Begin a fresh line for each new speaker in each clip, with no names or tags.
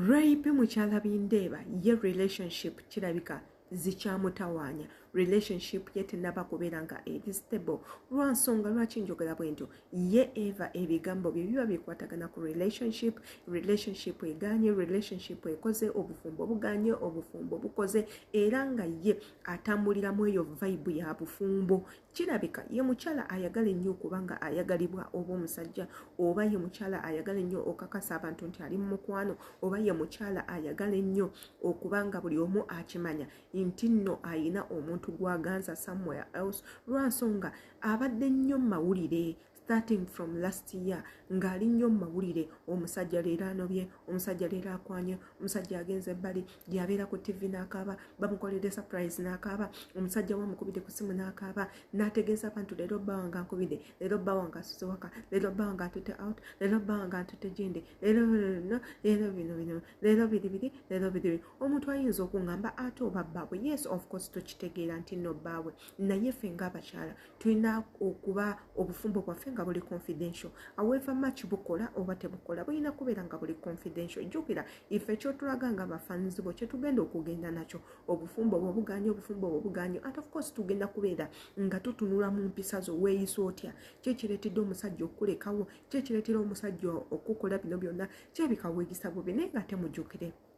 rape mukyala bindeeba ye relationship kirabika zikyamutawaanya relationship ye tenaba kubeera nga eri stable lwansonga lwaki njogera bwe ntyo ye eva ebigambo bye biba bikwatagana ku relationship relationship eganye relationship ekoze obufumbo buganye obufumbo bukoze era nga ye atambulira mu eyo vibe ya bufumbo kirabika ye mukyala ayagala ennyo okuba nga ayagalibwa oba omusajja oba ye mukyala ayagala ennyo okakasa abantu nti ali mu mukwano oba ye mukyala ayagala ennyo okuba nga buli omu akimanya nti nno ayina omuntu gwaganza somewhere else lwansonga abadde nnyo mawulire starting from last year ng'ali nnyo mu mawulire omusajja leero anobye omusajja leero akwanye omusajja agenze ebbali gyabeera ku ttivi n'akaaba bamukoledde surprise n'akaaba omusajja we amukubidde ku ssimu n'akaaba n'ategeeza abantu leero bba wange ankubidde leero bba wange asuze waka leero bba wange atutte out leero bba wange atutte gindi leero leero bino bino leero biri biri leero biri biri omuntu ayinza okuŋŋamba ate oba bbaabwe yes of course tukitegeera nti nno bbaabwe naye ffe ng'abakyala tulina okuba obufumbo bwaffe nga buli confidential aweva mach bukola oba tebukola bulina kubeera nga buli confidential jjukira ife ekyotulaga nga bafanzi bo kyetugenda okugenda nakyo obufumbo bwo buganye obufumbo bwo buganye at of course tugenda kubeera nga tutunula mu mpisa zo weeyisa otya kyekireetedde omusajja okukulekawo kyekireetera omusajja okukola bino byonna kyebika weeyisa bubi naye nga temujjukire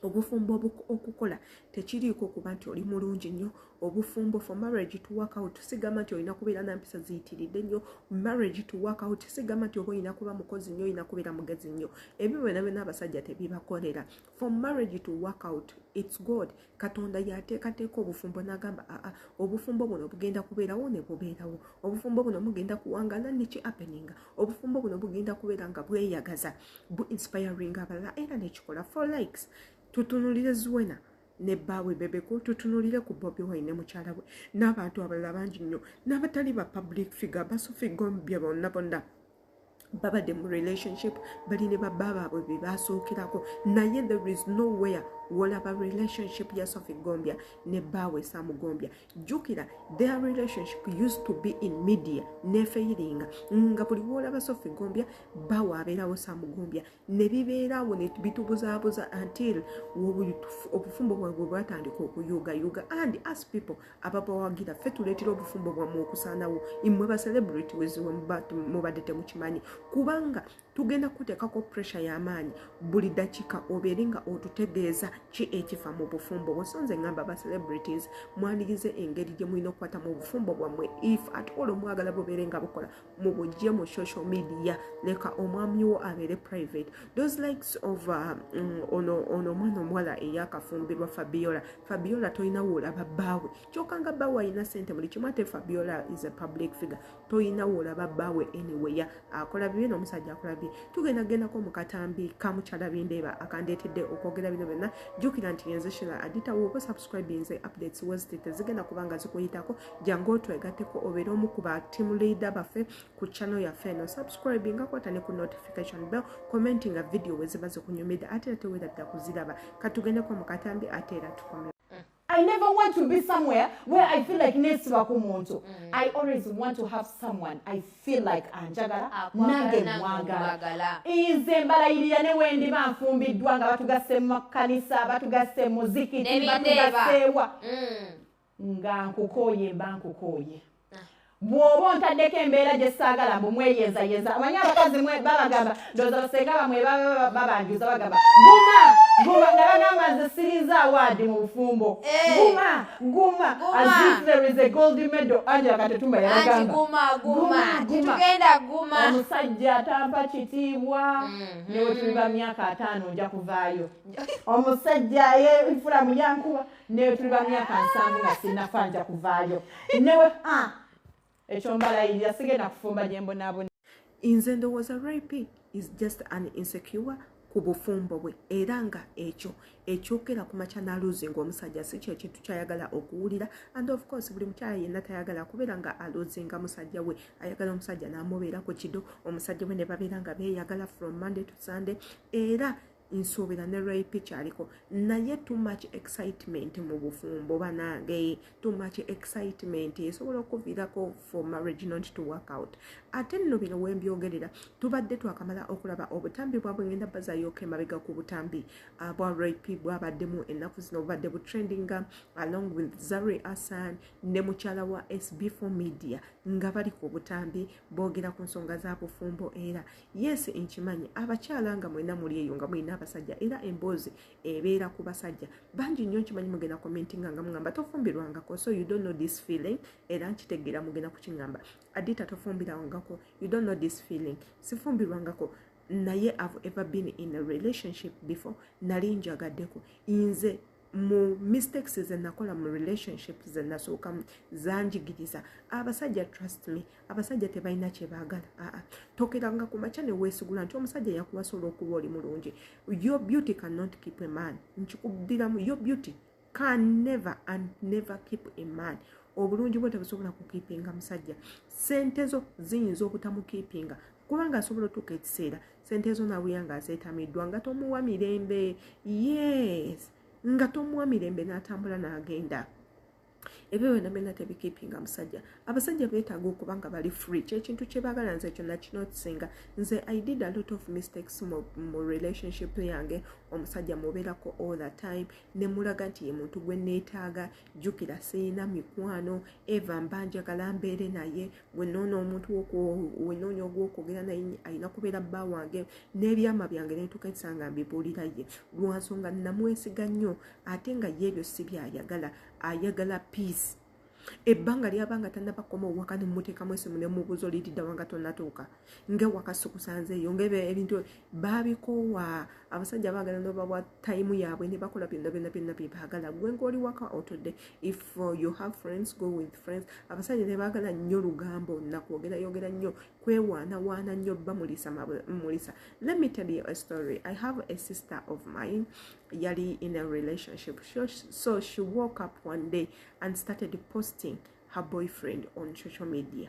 obufumbo okukola tekiriiko kuba nti oli mulungi nnyo obufumbo for marriage to work out sigamba nti olina kubeera na mpisa ziyitiridde nnyo marriage to work out sigamba nti oba olina kuba mukozi nnyo olina kubeera mugezi nnyo ebyo byona byona abasajja tebibakolera for marriage to work out its god katonda yateekateeka obufumbo n'agamba aa obufumbo buno bugenda kubeerawo ne bubeerawo obufumbo buno mugenda kuwangala neki appeninga obufumbo buno bugenda kubeera nga bweyagaza bu inspiring abalala era nekikola for likes tutunulire zuwena ne bbaawe bebeko tutunulire ku bobi wine ne mukyala we n'abantu abalala bangi nnyo n'abatali ba public figure basofigomubya bonna bonna babadde mu relationship bali ne babba baabwe be baasookerako naye there is nowhere wolaba relationship ya sofi gombya ne bbaawe samu gombya jjukira their relationship used to be in media nefeyiringa nga buli wolaba sofi gombya bbaawe abeerawo samu gombya ne bibeerawo ne bitubuzaabuza until obufumbo bwabwe bwatandika okuyuugayuuga and as people ababawagira ffe tuletera obufumbo bwamwe okusanawo imwe ba celebrity weziwe mubadde temukimanyi kubanga tugenda kutekako pressure yamaanyi buli dakika obeere nga otutegeeza ki ekifa mu bufumbo bwesonze ngamba ba celebrities mwanigize engeri gyemulina okukwata mu bufumbo bwamwe if at all omwagala bubeere nga bukola mu bujje mu social media leka omwami wo abeere private those likes of uh, mm, ono ono omwana omuwala eyakafumbirwa fabiola fabiola tolina woolaba bbaawe kyoka nga bbaawe alina sente buli kimu ate fabiola is a public figure tolina woolaba bbaawe anyway akola bibi n'omusajja akola bibi tugenda gendako mu katambi kamukyala bindeeba akandeetedde okwogera bino byonna jjukira nti yenze shira aditawo subscribinze updates weziti tezigenda kubanga zikuyitako jangu otwegateko obeera omu ku ba team leader baffe ku channel yaffe eno subscribe nga kwata ne ku notification bell commenti nga video weziba zikunyumidde ate era tewera dda kuziraba katugendeko mu katambi ate era tukomera I never
want to be somewhere where I feel like nesiba ku muntu. Mm. I always want to have someone I feel like anjagala nange mwagala nze mbalayirira ne wendiba nfumbiddwa nga batugasse mu makanisa batugasse muzikiti batugasseewa mm. nga nkukooye mba nkukooye bw'oba ontaddeko embeera gye saagala mbu mweyenzayenza omanyi abakazi babagamba ndoza basenga bamwe baba babanjuza bagamba guma guma nabagamba nze sirinza awaadi mu bufumbo eh. guma guma as if there is a gold medal angela katetumba yabagamba
omusajja atampa
kitiibwa mm-hmm. newe tuliba myaka ataano nja kuvaayo omusajja ye nfula muyankuba newe tuliba myaka nsanvu nga sinafa nja kuvaayo newe ah, ekyo
mbalayirira sigenda kufumba gyembonaabona nze ndowooza rip is just an insecure ku bufumbo bwe era nga ekyo ekyokera ku makyanaluzi ngaomusajja si kyo ekintu kyayagala okuwulira and of course buli mukyala yenna tayagala kubeera nga aluzi nga musajja we ayagala omusajja namubeera ku kido omusajja we ne babeera nga beeyagala from monday to sunday era nsuubira ne ray picha aliko naye too much excitement mu bufumbo banange too much excitement esobola okuviirako for marriage not to work out ate nno bino wembyogerera tubadde twakamala okulaba obutambi bwabwe ngenda bazayoka emabega ku butambi ah, bwa rap bwabaddemu ennaku zino obubadde butrendinga along with zari asan ne mukyala wa sb4 media nga bali ku butambi boogera ku nsonga za bufumbo era yes nkimanyi abakyala nga mwena muli eyo nga mulina abasajja era emboozi ebeera ku basajja bangi nnyo nkimanyi mugenda komenti nga nga mugamba tofumbirwangako so you don't know this feeling era nkitegeera mugenda kukingamba adita tofumbirangako you don't know this feeling sifumbirwangako naye ave ever been in a relationship before nali njagaddeko nze mu mistakes zenakola mu relationship zenasookamu zanjigiriza abasajja trust me abasajja tebalina kyebagala aa tokeranga ku makya newesigula nti omusajja yakuwasa olwokuba oli mulungi your beauty cannot keep a man nkikudiramu your beauty can never and never keep a man obulungi bwe tebusobola kukipinga musajja sente zo ziyinza obutamukiipinga kubanga asobola otuuka ekiseera sente zo nabuya nga azetamiddwa nga tomuwa mirembe yes nga tomuwa mirembe n'atambula n'agenda ebyo byona byona tebikipinga musajja abasajja betaaga okuba nga bali free kyekintu kyebagala nze ekyo nakinotisinga nze i did a lot of mistakes mu, mu relationship yange omusajja mubeerako all the time nemulaga nti ye muntu gwe neetaaga jjukira sirina mikwano eva mba njagala mbeere naye wenoona omuntu wenoonya ogwokwogera naye alina kubeera bba wange n'ebyama byange netuka esanga mbibuulira ye lwansonga namwesiga nnyo ate nga ye ebyo si byayagala ayagala peace ebbanga lyabanga tanabakoma owaka nemumuteekamu esimu nemubuuza olididawanga tonatuuka nga wakasukusanzeeyo nga ebyo ebintu baabikoowa abasajja baagala nobawa tayimu yaabwe ne bakola byonna byonna byonna bye baagala gwe ngaoli waka otudde if uh, you have friends go with friends abasajja ne baagala nnyo lugambo nakwogera yogera nnyo kwewaana waana nnyo bba mulisa mulisa let me tell you a story i have a sister of mine yali in a relationship so she woke up one day and started posting her boyfriend on social media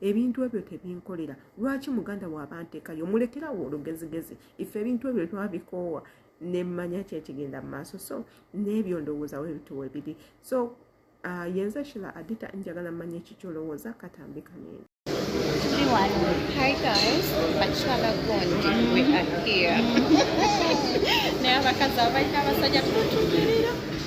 ebintu ebyo tebinkolera lwaki muganda wabanteekayo mulekerawo olugezigezi ife ebintu ebyo twabikoowa nemmanya kyekigenda mu maaso so n'ebyo ndowooza webituwe biri so uh, yenze shila adita njagala mmanya ekikyolowooza katambika nene Hi guys,
Bachelor Gondi, we are here. Now, because I like our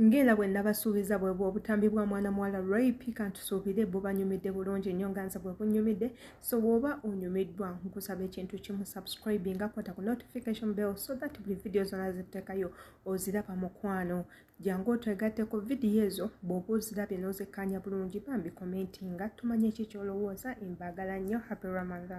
ng'era bwe nabasuubiza bwe bw'obutambi bwa mwana muwala rip kantusuubire bubanyumidde bulungi nnyo nga nze bwe bunyumidde so bw'oba onyumiddwa nkusaba ekintu kimu subscribe nga kwata ku notification bell so that buli vidiyo zonna zitekayo oziraba mukwano jangu otwegatte ku vidiyo ezo bw'oba ozirabye n'ozekkaanya bulungi bambi commentinga tumanye ki kyolowooza embagala nnyo happy ramadan